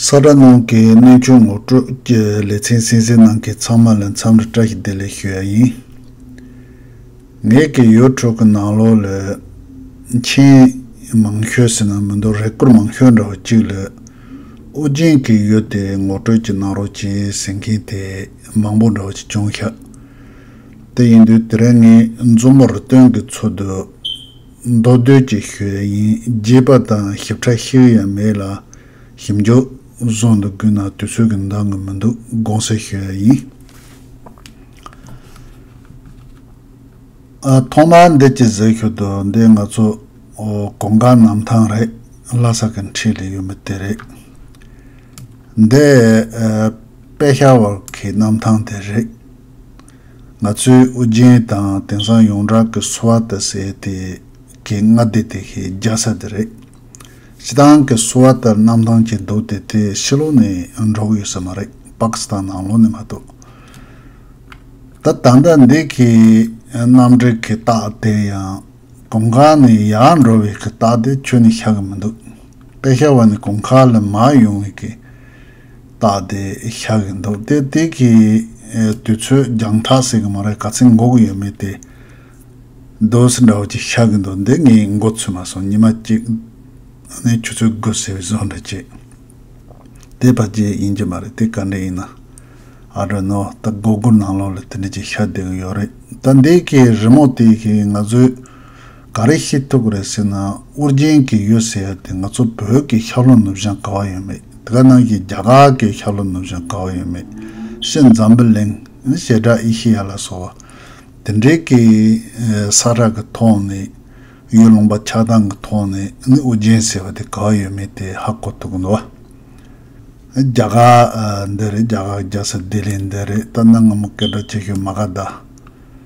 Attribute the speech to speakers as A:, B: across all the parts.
A: ས་དགྲ་རྣམས་ཀྱི་གནས་ཆུང་ངུ་སྤྲོད་ཀྱི་ལེ་ཚན་སེང་སེ་ནང་གི་ཚང་མ་ལ་མཚམས་རེ་བཀྲ་ཤིས་བདེ་ལེགས་ཞུ་ཡ་ཡིན། ངེད་ཀྱི་ཡོད་ཕྲུག་གི་ནང་ལོག་ལོས། མཆན། མང་ཤོས་ཟེར་ན་མི་འདུག་རེ་སྐུར་མང་ཤོས་འདྲ་བ་གཅིག་ལོས། ཨོ་རྒྱན་གྱི་ཡོད་དེ་ངོ་སྤྲོད་ཀྱི་གནང་རོགས་གྱིས་ཟེར་མཁན་དེ་མང་པོ་འདྲ་བ་གཅིག་བྱུང་ཤག་དེ་ཡིན་དུས་དེ་རིང་ངས་འཛུམ་བར་སྟོན་གི་ཚོད་དུ། མདོ་སྟོད་ཀྱི་ཤོད་དབྱིན་རྒྱས་པ་དང་ཞིབ་ཕྲ་ཤེས་ཡོད་ཡང་མེད་ལ། ཞིབ་འཇུག་བཟོ་འདོད་དགོས་ན་དུས་ཚོད་ཀྱི་འདང་ངེས་མི་འདུག་དགོངས་སེལ་ཞུ་ཡ་ཡིན། ཐོག་མར་འདི་གྱི་ཟེར་ཤོད་དུ་འདི་ང་ཚོ་གོང་དཀར་ནམ་ཐང་རེད་ལྷ་ས་གི་འཁྲིས་ལས་ཡོད་མི་དེ་རེད། འདི་དཔལ་ཤར་བར་གྱི་གནམ་ཐང་དེ་རེད། ང་ཚོས་ཨོ་རྒྱན་དང་དེང་སང་ཡོངས་གྲགས་ཀྱི་གསོ་བ་དང་ཟས་དེ་གའི་སྔ་ལྟས་དེ་ཤེས་རྒྱ་ས་དེ་རེད། སྤྱི་སྟངས་ཀྱི་གསོ་བ་ལྟར་གནམ་ཐང་གྱི་མདོ་དེ་དེ་ཕྱི་ལོགས་ནས་འབྲོག་ཡོད་ས་མ་རེད་པཱ་ཀི་སི་ཐན་ནང་ལོགས་ནས་མ་གཏོགས། ད་ད་ལྟ་འདི་གའི་གནམ་འདྲེ་གི་རྟགས་དེ་ཡང་གོང་ཁ་ནས་ཡར་འགྲོ་བའི་གི་རྟགས་དེ་ཁྱོན་ནས་ཤར་གི་མི་འདུག་དཔེ་ཤར་བ་ནི་གོང་ཁ་ལ་མར་ཡོང་བའི་གི། བཏགས་ཏེ་བཞག་གི་འདུག་སྟེ་དེ་གི་དུས་ཚོད་རྒྱང་ཐག་ཟེར་གི་མ་རེད་ག་ཚད་འགོག་གི་ཡོད་མེད་དེ། Dose འདྲ་བོ་གཅིག་བཞག་གི་འདུག་འདི་ངས་འགོ་ཚུགས་མ་སོང་ཉི་མ་གཅིག་ནས་ཆུ་ཚོད་དགུ་ཟེར་བའི་བཟོ་འདྲ་ཅིག་དེ་བར་གྱི་ཡིན་གྱི་མ་རེད་དེ་ག་འདྲ་ཡིན་ན I don't know ད་མགོ་སྒུར་ནང་ལོགས་ལ་དེ་འདྲ་ཅིག་བཞག་བསྡད་གི་ཡོད་རེད་ད་འདི་གི་རི་མོ་དེ་གི་ང་ཚོའི་ག་རེ་ཤེས་ཐུབ་རེད་ཟེར་ན་ཨོ་རྒྱན་གྱིས་ཡོད་ཟེར་ཡ་དེ་ང་ཚོ་བོད་ཀྱི་ཤར་ལྷོ་ནུབ་བྱང་ག་བ་ཡོད་མེད་དེ་ག་ནང་བཞིན་རྒྱ་གར་གྱི་ཤར་ལྷོ་ནུབ་བྱང་ག་བ་ཡོད་མེད་ཤེས་འཛམ་བུ་གླིང་ཞེ་དྲག་ཨེ་ཤེ་ཡ་ལ་སོགས་དེ་འདྲའི་གི་ས་ར་གི་ཐོག་ནས་ཡུལ་ལུང་པ་ཆགས་སྟངས་གི་ཐོག་ནས་ནི་ཨོ་རྒྱན་ཟེར་བ་དེ་ག་བ་ཡོད་མེད་དེ་ཧ་གོ་ཐུབ་གི་འདུག་བ། རྒྱ་གར་འདི་རེད་རྒྱ་གར་རྒྱལ་ས་ལྡི་ལི་འདི་རེད་ད་གནའ་སྔ་མོ་སྐད་སྒྲ་ཆེ་ཤོས་མ་ག་ད།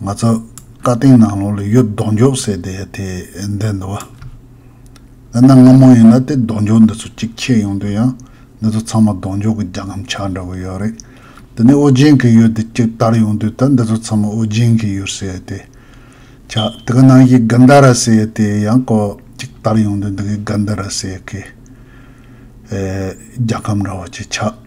A: ང་ཚོ་བཀའ་བསྟན་ནང་ལོགས་ལ་ཡོད་ལྡོག་འཇོག་ཟེར་བསྡད་ཡ་དེ་འདི་འདུག་བ། འདི་ནང་སྔ་མོ་ཡིན་ན་དེ་ལྡོག་འཇོག་འདི་ཚོ་གཅིག་ཆད་ཡོང་དུས་ཡང་འདི་ཚོ་ཚང་མ་ལྡོག་འཇོག་གི་རྒྱ་ཁམ་ཆག་འདྲ་བོ་ཡོད་རེད། དེ་ནས་ཨོ་རྒྱན་གྱི་ཡོད་དེ་གཅིག་དར་ཡོང་དུས་ད་འདི་ཚོ་ཚང་མ་ཨོ་རྒྱན་གྱི་ཡོད་ཟེར་ཡ་དེ། ཆ་དེ་ག་ནང་གི་ག་འདའ་ར་ཟེར་ཡ་དེ་ཡང་ཀོ་གཅིག་དར་ཡོང་དུས་འདི་གི་ག་འདའ་ར་ཟེར་ཡ་ཀི། རྒྱ་ཁམ་འདྲ་བོ་ཅིག་ཆགས།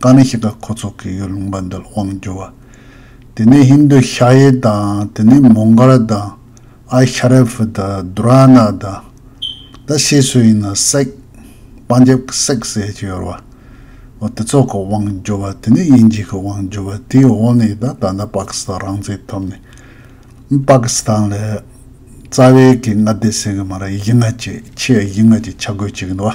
A: ད་ནི་ཞིག་ལ་ཁོ་ཚོ་གིས་ཡུལ་ལུང་པ་འདིར་དབང་བསྒྱུར་བ། དེ་ནས་ཧིན་རྡུ་ཤ་ཡེ་དང་དེ་ནས་མོང་གོལ་དང་ཨ་ཤ་རེ་ཕི་དང་རྡུ་ར་ན་དང། ད་ཤེས་སུ་ཡིན་ན་སེག། པང་རྒྱབ་ཀྱི་སེག་ཟས་ཀྱི་ཡོར་བ། འོ་དེ་ཚོ་གི་དབང་བསྒྱུར་བ་དེ་ནས་དབྱིན་ཇི་གི་དབང་བསྒྱུར་བ་དེའི་འོག་ནས་ད་ད་ལྟ་པ་ཀི་སི་ཐང་རང་བཙན་ཐོབ་ནས། པ་ཀི་སི་ཐང་ལ་རྩ་བའི་གི་མངའ་སྡེ་ཟེར་གི་མ་རེད་གཞི་མངའ་ཅིག་ཆེས་གཞི་མངའ་ཅིག་ཆ་བགོས་བྱེད་ཀྱི་འདུག་བ།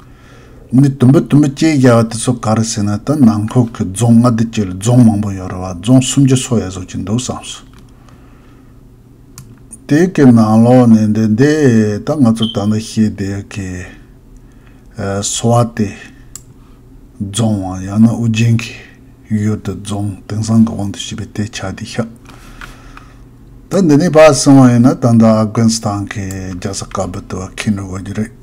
A: མི་བསྡུ་འབུད་བསྡུ་འབུད་བཅས་རྒྱག་པ་དེ་ཚོ་ག་རེ་ཟེར་ན་ད་ནང་ཁུལ་གྱི་རྫོང་ལྔ་བདུན་བཅས་ལས་རྫོང་མང་པོ་ཡོད་རེད་བ་རྫོང་སུམ་ཅུ་སོ་ཡ་བཟོ་གྱི་འདུག་བསམ་སོང། དེ་གའི་ནང་ལོགས་ནས་འདི་འདི་ད་ང་ཚོ་ད་ལྟ་ཤེས་དེ་གའི་སོ་བ་སྟེ། རྫོང་བ་ཡང་ན་ཨུ་རྒྱན་གྱི་ཡུལ་དུ་རྫོང་དེང་སང་གི་དབང་དུ་བྱས་པའི་དེ་ཆགས་དེ་ཤག་ད་འདི་ནས་བ་གསུང་བ་ཡིན་ན་ད་ནྡ་ཨ་དགོན་ས་ཐང་གི་རྒྱག་ས་དཀར་པོ་དུ་བ་ཁེ་འགྲོ་དགོས་རྒྱུ་རེད།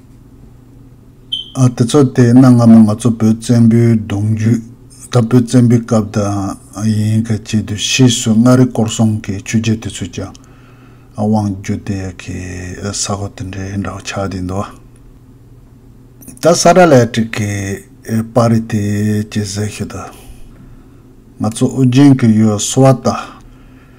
A: དེ་ཚོ་དེ་གནའ་སྔ་མོ་ང་ཚོ་བོད་བཙན་པོའི་གདུང་རྒྱུད་ད་བོད་བཙན་པོའི་སྐབས་དང་ཡིན་ག་ཅིག་དུས་ཕྱིས་སུ་མངའ་རིས་སྐོར་སྲུང་གི་ཆོས་རྒྱལ་དེ་ཚོས་ཀྱང་དབང་བསྒྱུར་དེ་གའི་ས་གོ་དེ་འདྲའི་འདྲ་བོ་ཆགས་བསྡད་འདུག་ད་ས་ར་ལས་དྲི་གའི་པར་རིས་དེ་ཇི་ཟེར་ཤེས་དང། ང་ཚོ་ཨོ་རྒྱན་གྱི་ཡུལ་བ་སོ་བ་དང།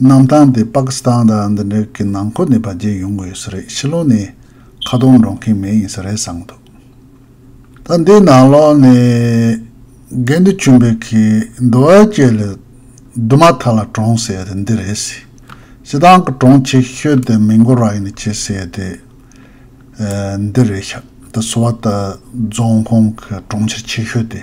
A: གནམ་ཐང་དེ་པ་ཀི་སི་ཐང་དང་འདི་འདྲ་གི་ནང་ཁུལ་ནས་བར་བརྒལ་ཡོང་གི་ཡོད་ས་རེད་ཕྱི་ལོག་ནས་ཁ་རྡུང་འགྲོ་མཁན་མེད་ཡིན་ས་རེད་བསམ་འདུག་ད་འདི་ནང་ལོག་ནས་རྒན་དུ་བྱོན་པའི་གི་འདུ་བ་བཅས་ལས་འདུ་མ་ཐག་ལ་གྲོང་ཟེར་དེ་འདི་རེད་སི་སི་ཐང་གི་གྲོང་ཆེ་ཤོས་དེ་མི་མགོ་ར་ཡིན་ནི་བྱེད་ཟེར་དེ་འདི་རེད་ཤག་ད་སུ་བ་ད་རྫོང་ཁོངས་གི་གྲོང་ཁྱེར་ཆེ་ཤོས་དེ།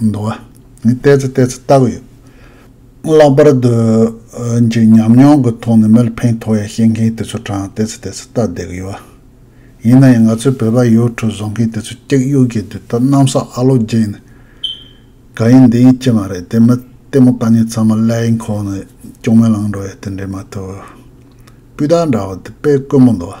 A: འདུག་བ། ནི་བལྟས་ཚེ་བལྟས་ཚེ་བལྟ་གི་ཡོད། ལྷག་པར་དུ། ཅིག་ཉམས་མྱོང་གི་ཐོག་ནས་མི་ལ་ཕན་ཐོགས་ཡ་བཤད་མཁན་དེ་ཚོ་དྲང་བལྟས་ཚེ་བལྟས་ཚེ་བལྟ་བསྡད་གི་ཡོད་བ། ཡིན་ན་ཡང་ང་ཚོའི་བོད་པ་ཡོའུ་ཁྲུ་བཟོ་མཁན་དེ་ཚོ་ཀྱག་གཡུག་གི་དུས་ད་གནམ་ས་ཨ་ལོ་བརྗེས་ནས། ག་ཡིན་འདི་ཡིན་ཅི་མ་རེད་དེ་མི་ལྟད་མོ་ལྟ་ཉན་ཚང་མ་ཀླད་ཡིན་ཁོག་ནས་ཅུང་མེ་ལངས་འགྲོ་ཡ་དེ་འདྲས་མ་ཐུབ། སྤུས་དག་འདྲ་བ་དེ་དཔེ་དཀོན་པོ་འདུག་བ།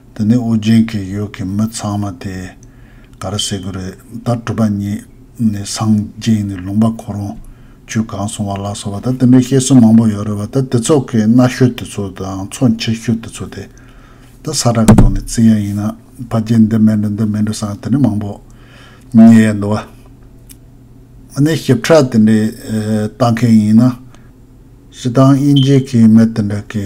A: དེ་ནས་ཨོ་རྒྱན་གྱི་ཡུལ་གྱི་མི་ཚང་མ་དེ་ག་རེ་བྱེད་གི་རེད་ད་གྲུབ་པ་ཉིད་ནས་སངས་རྒྱས་ནས་ལུང་པ་གོ་རུང་ཆོས་གང་སོང་བ་ལ་སོགས་པ་ད་དེ་འདྲའི་བཤད་སྲོལ་མང་པོ་ཡོད་རེད་བ་ད་དེ་ཚོགས་ཀྱི་སྣ་ཤོད་དེ་ཚོ་དང་ཚོགས་མཆེད་ཤོད་དེ་ཚོ་དེ་ད་ས་ར་གི་ཐོག་ནས་བརྩི་ཡ་ཡིན་ན་ཕ་རྒྱལ་འདི་མེད་འགྲོ་འདི་མེད་འགྲོ་སང་དེ་འདྲའི་མང་པོ་ཉལ་ཡ་འདུག་བ་ནས་ཞིབ་ཕྲ་དེ་འདྲའི་ལྟ་མཁན་ཡིན་ན་ཞེ་སྡང་དབྱིན་ཇི་གི་མི་དེ་འདྲ་གི།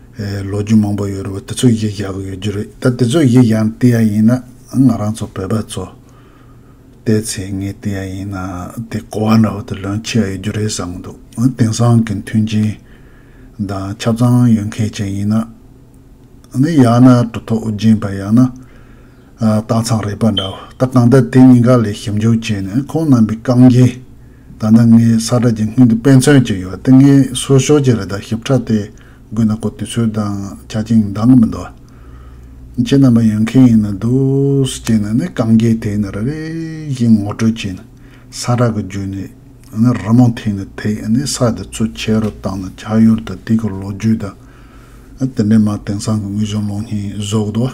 A: ལོ་རྒྱུས་མང་པོ་ཡོད་རེད་བ་དེ་ཚོ་ཡིག་བཞག་གི་ཡོད་རྒྱུ་རེད་ད་དེ་ཚོ་ཡིག་བཞག་ནས་བལྟས་ཡ་ཡིན་ན་ང་རང་ཚོ་བོད་པ་ཚོ་བལྟས་ཚེ་ངས་བལྟས་ཡ་ཡིན་ན་དེ་གོ་བ་འདྲ་བོ་དེ་ལོན་ཆེ་ཡ་ཡོད་རྒྱུ་རེད་བསམ་གི་འདུག་དེང་སང་གི་མཐུན་རྐྱེན་དང་ཆབ་ཚང་ཡོད་མཁན་ཅན་ཡིན་ན་ནི་ཡང་ན་གྲུ་ཐོག་རྒྱན་པ་ཡང་ན་སྟག་ཚང་རེད་པ་འདྲ་བོ་ད་གང་ལྟར་དེ་གཉིས་ཀ་ལས་ཞིབ་འཇུག་བྱས་ནས་ཁོང་རྣམ་པའི་རྐང་རྗེས་ད་ལྟ་ངའི་ས་ཁྲ་གྱི་སྔུན་དུ་དཔེ་མཚོན་གྱི་ཡོད་དེ་ངས་སུ་ཞོག་གྱི་རེད་ད་ཞིབ་ཕྲ་དེ། དགོས་ན་གོ་དུས་ཚོད་དང་ཆ་བཅིངས་མདང་གི་མི་འདུག། ཁྱེད་རྣམ་པ་ཡོད་མཁན་ཡིན་ན་འདུག་ཅེས་ནས་ནི་གངས་རྒྱལ་དེ་ནི་རེ་རེ་བཞིན་ངོ་སྤྲོད་ཅིང་ས་ར་གི་རྒྱུད་ནས་ནི་རི་མོ་འཐེན་ནས་དེ་ནི་ས་དེ་ཚོ་ཕྱི་རུ་བཏང་ནས་ཕྱག་ཡོར་དུ་དེ་གི་ལོ་རྒྱུས་དང། དེ་འདྲའི་མ་དེང་སང་གི་དངོས་བྱུང་ཀློག་སྙིང་བཟོ་གི་འདུག།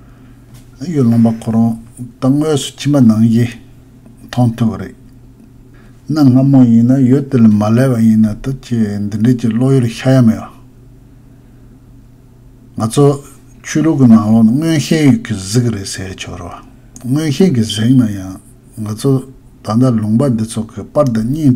A: གཡུ་ལོང་པ་ཁོ་རང་ད་དངོས་སུ་ཁྱིམ་པ་ནང་བཞིན་མཐོང་ཐུབ་རེད། གནའ་སྔ་མོ་ཡིན་ན་ཡུལ་དེ་ལ་མ་སླེབས་པ་ཡིན་ན་ད་ཅི་འདི་འདྲས་ཀྱི་བློ་ཡུལ་ཤར་ཡ་མེད། ང་ཚོ་ཆོས་ལུགས་ཀྱི་ནང་ལོག་ན་མངོན་ཤེས་ཡོད་ཀྱི་གཟིགས་རེད་ཟེར་ཆོག་རོ། མངོན་ཤེས་ཀྱི་གཟིགས་ན་ཡང་ང་ཚོ་ད་ལྟ་ལུང་པ་འདི་ཚོ་གི་པར་དང་སྙིང